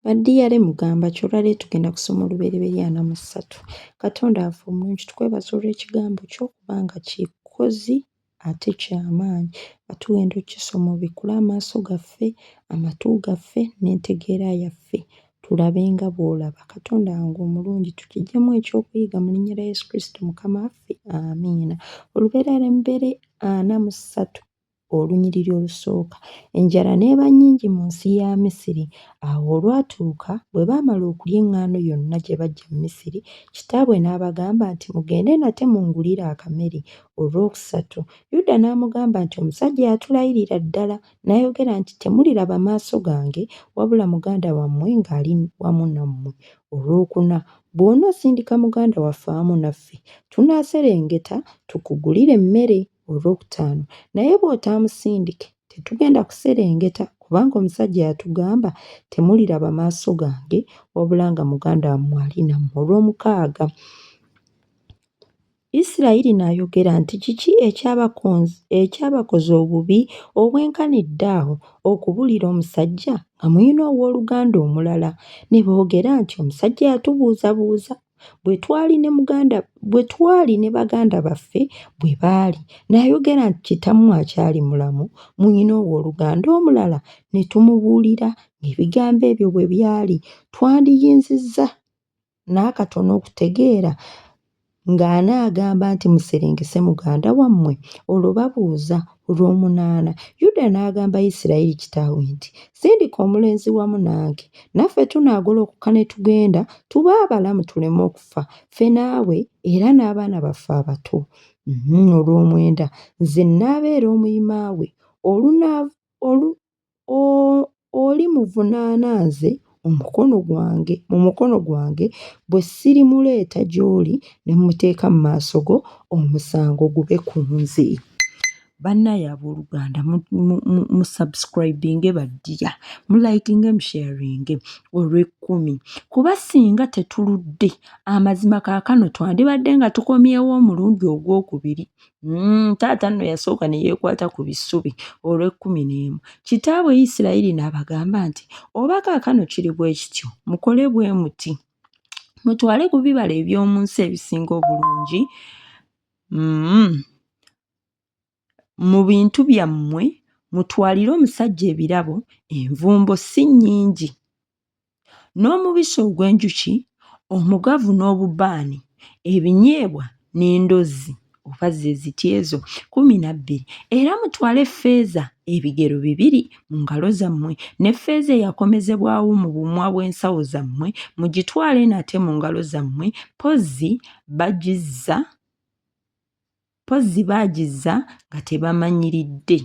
Badiyale mugamba ki olwaleero tugenda kusoma olubereberye ana mu ssatu. Katonda waffe omulungi tukwebaza olw'ekigambo kyo kubanga kikozi ate kyamaanyi nga tugenda okukisoma obikkule amaaso gaffe, amatu gaffe n'entegeera yaffe tulabe nga bw'olaba. Katonda wange omulungi tukiggyemu ekyokuyiga mu linnya lya Yesu Kristo Mukama waffe, amiina. Olubereberye ana mu ssatu. olunyiriri olusooka, enjala n'eba nnyingi mu nsi ya Misiri. Awo olwatuuka bwe baamala okulya eŋŋaano yonna gye baggya mu Misiri, kitaabwe n'abagamba nti, Mugende nate mungulire akamere. Olwokusatu, Yuda n'amugamba nti, Omusajja yatulayirira ddala n'ayogera nti, Temuliraba maaso gange wabula muganda wammwe ng'ali wamu nammwe. Olwokuna, Bw'onoosindika muganda waffe awamu naffe, tunaaserengeta tukugulire emmere. Olwokutaano naye bw'otaamusindike tetugenda kuserengeta kubanga omusajja yatugamba temuliraba maaso gange wabula nga muganda wammwe ali nammwe. Olwomukaaga Isirayiri n'ayogera nti kiki ekyabakoze obubi obwenkanidde awo okubulira omusajja nga mulina owooluganda omulala? Ne boogera nti omusajja yatubuuzabuuza bwe twali ne muganda bwe twali ne baganda baffe bwe baali n'ayogera nti kitammwe akyali mulamu muyina owooluganda omulala ne tumubuulira ng'ebigambo ebyo bwe byali twandiyinzizza n'akatono okutegeera ng'anaagamba nti muserengese muganda wammwe olwo babuuza Olw'omunaana, Yuda n'agamba Isirayiri kitaawe nti, Sindika omulenzi wamu nange, naffe tunaagolokoka ne tugenda, tube abalamu tuleme okufa, ffe naawe era n'abaana baffe abato. Olw'omwenda, nze nnaabeera omuyima we, Oli muvunaana nze omukono gwange mu mukono gwange, bwe sirimuleeta gy'oli ne mmuteeka mu maaso go, omusango gube ku nze. Bannaaye abooluganda musubscribinge baddiya, mulayikinge musheyaringe olw'ekkumi kuba singa tetuludde amazima kaakano twandibadde nga tukomyewo omulundi ogwokubiri Mm, taata nno yasooka ne yeekwata ku bisubi olw'ekkumi n'emu kitaabwe isirayiri n'abagamba nti oba kaakano kiri bwe kityo mukole bwe muti mutwale ku bibala eby'omu nsi ebisinga obulungi mm, mu bintu byammwe mutwalire omusajja ebirabo envumbo si nnyingi n'omubisi ogw'enjuki omugavu n'obubaani ebinyeebwa n'endozzi oba ze ziti ezo kkumi na bbiri era mutwale ffeeza ebigero bibiri mu ngalo zammwe ne ffeeza eyakomezebwawo mu bumwa bw'ensawo zammwe mugitwale nate mu ngalo zammwe mpozzi bagizza mpozzi baagizza nga tebamanyiridde.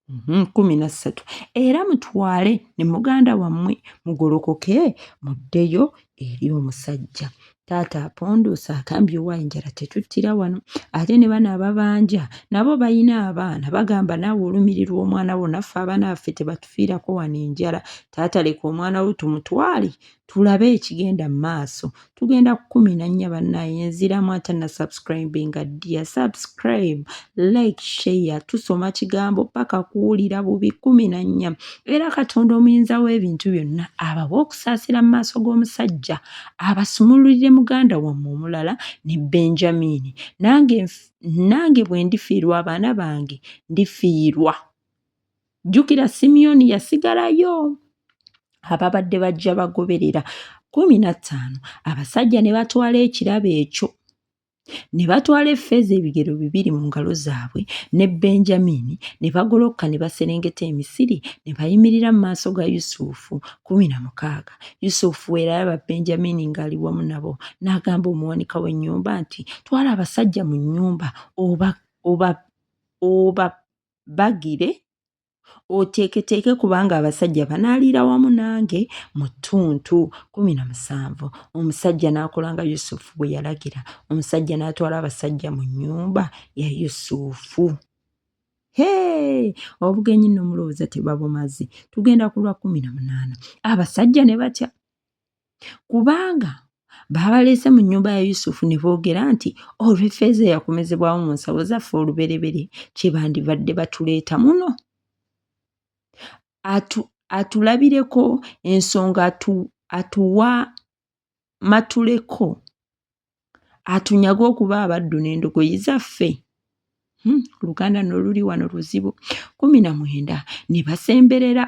mhm, kumi na ssatu era mutwale ne muganda wammwe mugolokoke muddeyo eri omusajja taata aponduusa agambye owa enjala tetuttira wano ate ne bano ababanja nabo balina abaana bagamba naawe olumirirwa omwana wo naffe abaana baffe tebatufiirako wano enjala taata leka omwana wo tumutwale tulabe ekigenda mu maaso tugenda kukumi na nnya bannaye nziramu ate na subscribinga dia subscribe like share tusoma kigambo paka kuwulira bubi kumi na nnya era katonda omuyinza w'ebintu byonna abawa okusaasira mu maaso g'omusajja abasumululire muganda wamme omulala ne benjamini nange nange bwe ndifiirwa abaana bange ndifiirwa jjukira simyoni yasigalayo ababadde bajja bagoberera kumi na ttaano abasajja ne batwala ekirabo ekyo ne batwala effeeza ebigero bibiri mu ngalo zaabwe ne benjamini ne bagolokka ne baserengeta emisiri ne bayimirira mu maaso ga yusufu kumi na mukaaga yusufu era yaba benjamini ng'ali wamu nabo n'agamba omuwanika w'ennyumba nti twala abasajja mu nnyumba oba oba oba bagire oteeketeeke kubanga abasajja banaaliira wamu nange mu ttuntu kumi na musanvu omusajja n'akola nga yusufu bwe yalagira omusajja n'atwala abasajja mu nnyumba ya yusufu hee obugenyi nno mulowooza tebabumazi tugenda ku lwa kumi na munaana abasajja ne batya kubanga baabaleese mu nnyumba ya yusufu ne boogera nti olw'effeeza eyakomezebwawo mu nsawo zaffe olubereberye kye bandibadde batuleeta muno atu atulabireko ensonga atu atuwa matuleko atunyage okuba abaddu n'endogoyi zaffe hmm, oluganda hmm, noluli wano luzibu kumi na mwenda ne basemberera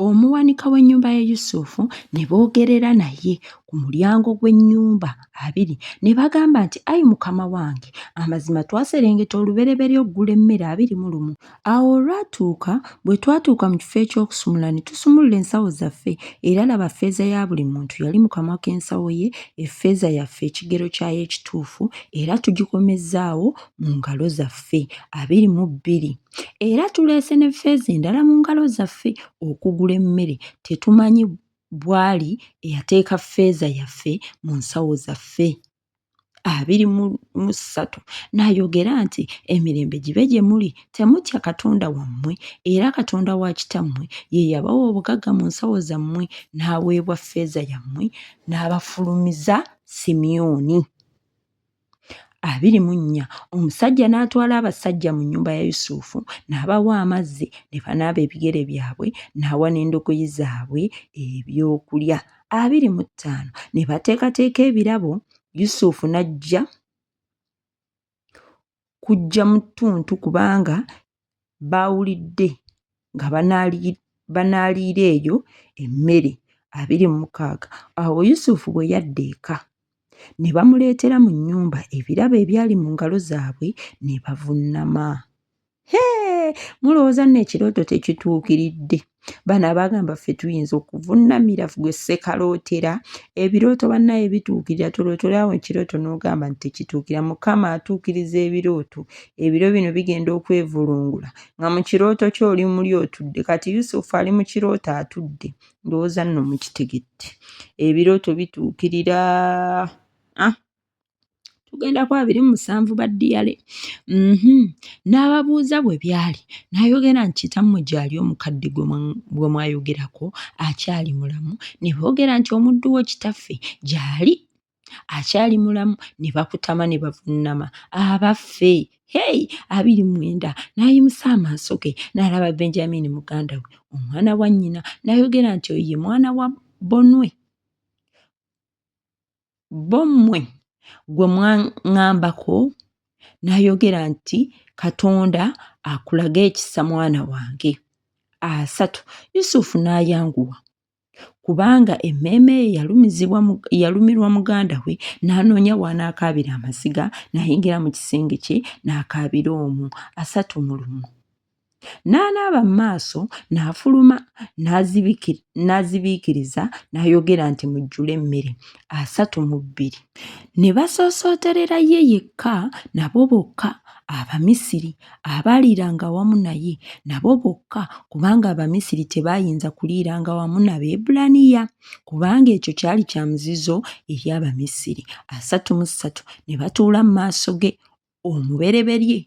omuwanika w'ennyumba ya yusufu ne boogerera naye ku mulyango gw'ennyumba abiri ne bagamba nti ayi mukama wange amazima twaserengeta olubereberye okugula emmere abiri mu lumu Awo olwatuuka, bwe twatuuka mu kifo eky'okusumulula ne tusumulula ensawo zaffe, era laba, ffeeza ya buli muntu yali mu kamwa k'ensawo ye, effeeza yaffe ekigero kyayo ekituufu, era tugikomezzaawo mu ngalo zaffe, abiri mu bbiri. Era tuleese ne ffeeza endala mu ngalo zaffe okugula emmere, tetumanyi bw'ali eyateeka ffeeza yaffe mu nsawo zaffe. abiri mu ssatu n'ayogera nti emirembe gibe gye muli temutya katonda wammwe era katonda wa kitammwe ye yabawa obugagga mu nsawo zammwe n'aweebwa ffeeza yammwe n'abafulumiza simyoni abiri mu nnya omusajja n'atwala abasajja mu nnyumba ya yusufu n'abawa amazzi ne banaaba ebigere byabwe n'awa n'endogoyi zaabwe ebyokulya abiri mu ttaano ne bateekateeka ebirabo yusufu n'ajja kujja mu ttuntu kubanga baawulidde nga banaaliira eyo emmere abiri mu mukaaga awo yusufu bwe yadda eka ne bamuleetera mu nnyumba ebirabo ebyali mu ngalo zaabwe ne bavunnama hee mulowooza nno ekirooto tekituukiridde bano abagamba ffe tuyinza okuvunamira gwe sekalootera ebirooto bannaye bituukirira tolootorawo ekirooto n'ogamba nti tekituukira mukama atuukiriza ebirooto ebiro bino bigenda okwevulungula nga mu kirooto kyo oli muli otudde kati yusufu ali mu kirooto atudde ndowooza nno mukitegedde ebirooto bituukirira ah. tugenda ku abiri mu musanvu ba ddiyale mhm. n'ababuuza bwe byali n'ayogera nti kitammwe gyali omukadde gwe mwayogerako akyali mulamu ne boogera nti omuddu wo kitaffe gyali akyali mulamu ne bakutama ne bavunnama abaffe hey abiri mwenda n'ayimusa amaaso ge n'alaba benjamini muganda we omwana wa nnyina n'ayogera nti oyo ye mwana wa bonwe bo mmwe gwe mwaŋŋambako n'ayogera nti katonda akulage ekisa mwana wange asatu yusufu n'ayanguwa kubanga emmeeme ye yalumizibwa yalumirwa muganda we n'anoonya w'anaakaabira amaziga n'ayingira mu kisenge kye n'akaabira omwo asatu mu lumu N'anaaba mu maaso n'afuluma n'azibiikiriza n'ayogera nti mujjule emmere asatu mu bbiri. Ne basoosooterera ye yekka nabo bokka Abamisiri abaaliiranga wamu naye nabo bokka kubanga Abamisiri tebaayinza kuliiranga wamu na Beebbulaniya kubanga ekyo kyali kya muzizo eri Abamisiri. Asatu mu ssatu ne batuula mu maaso ge omubereberye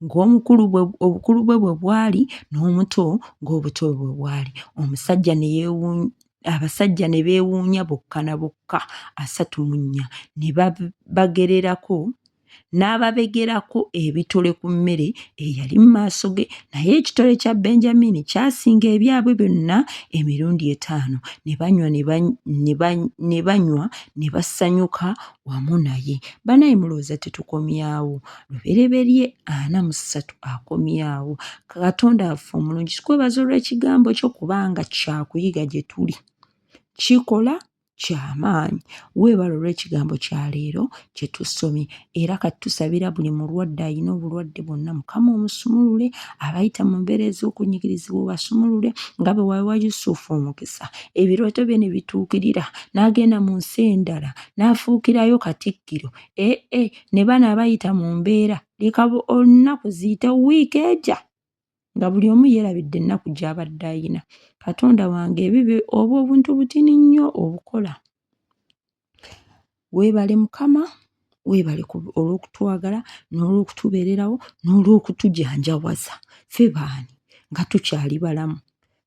ng'omukulu bwe obukulu bwe bwe bwali n'omuto ng'obuto bwe bwe bwali omusajja ne yeewuunya abasajja ne beewuunya bokka na bokka asatu mu nnya ne bagererako n'ababegerako ebitole ku mmere eyali mu maaso ge naye ekitole kya benjamini kyasinga ebyabwe byonna emirundi etaano ne banywa ne banywa ne basanyuka wamu naye banaye mulowooza tetukomyawo lubereberye ana mu ssatu akomyawo katonda affe omulungi kikwebaza olw'ekigambo kyo kubanga kyakuyiga gye tuli kikola kyamaanyi weebala olw'ekigambo kya leero kye tusomye era kati tusabira buli mulwadde alina obulwadde bwonna mukama omusumulule abayita mu mbeera ez'okunyigirizibwa obasumulule nga bwe wawa yusufu omukisa ebirooto bye ne bituukirira n'agenda mu nsi endala n'afuukirayo Katikkiro eh eh ne bano abayita mu mbeera leka olunaku ziyite wiiki eja nga buli omu yeerabidde ennaku gy'abadde ayina Katonda wange ebibi obwo obuntu butini nnyo obukola weebale Mukama weebale olw'okutwagala n'olw'okutubeererawo n'olw'okutujanjawaza ffe baani nga tukyali balamu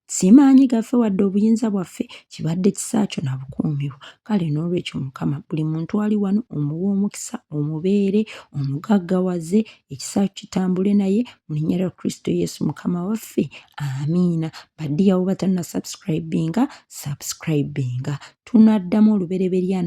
si maanyi gaffe wadde obuyinza bwaffe kibadde kisaakyo na bukuumiwo kale n'olwekyo mukama buli muntu ali wano omuwa omukisa omubeere omugaggawaze ekisaakyo kitambule naye mu linnya lya kristo yesu mukama waffe amiina badiyawo batanna subscribinga subscribinga tunaddamu olubereberye ana